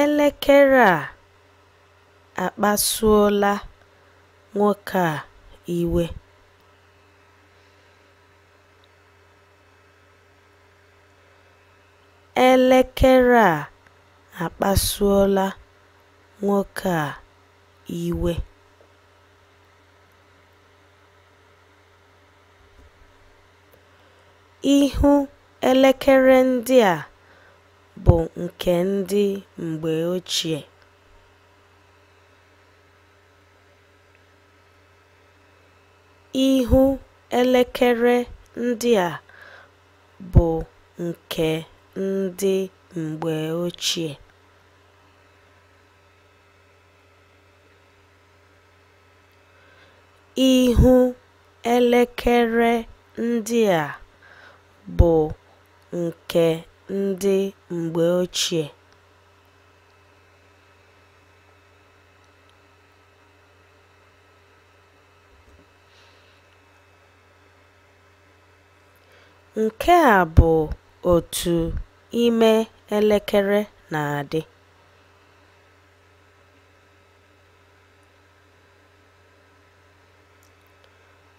Elekere a akpasuola nwoke a iwe. Elekere a akpasuola nwoke a iwe. Ihu elekere ndị a bụ nke ndị mgbe ochie. Ihu elekere ndị a bụ nke ndị mgbe ochie. Ihu elekere ndị a bụ nke ndị mgbe ochie. Nke a bụ otu ime elekere na-adị.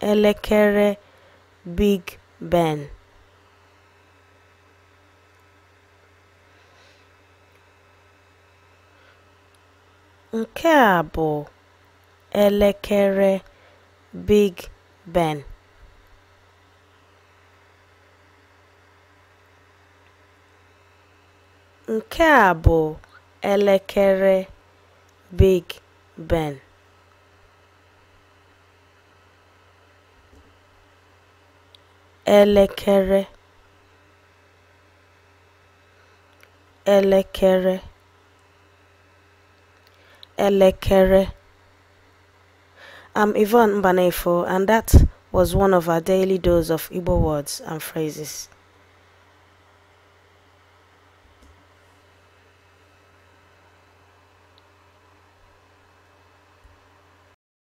elekere Big Ben. Nke a bụ elekere Big Ben. Nke a bụ elekere Big Ben. elekere elekere elekere I'm Yvonne Mbanefo and that was one of our daily dose of Igbo words and phrases.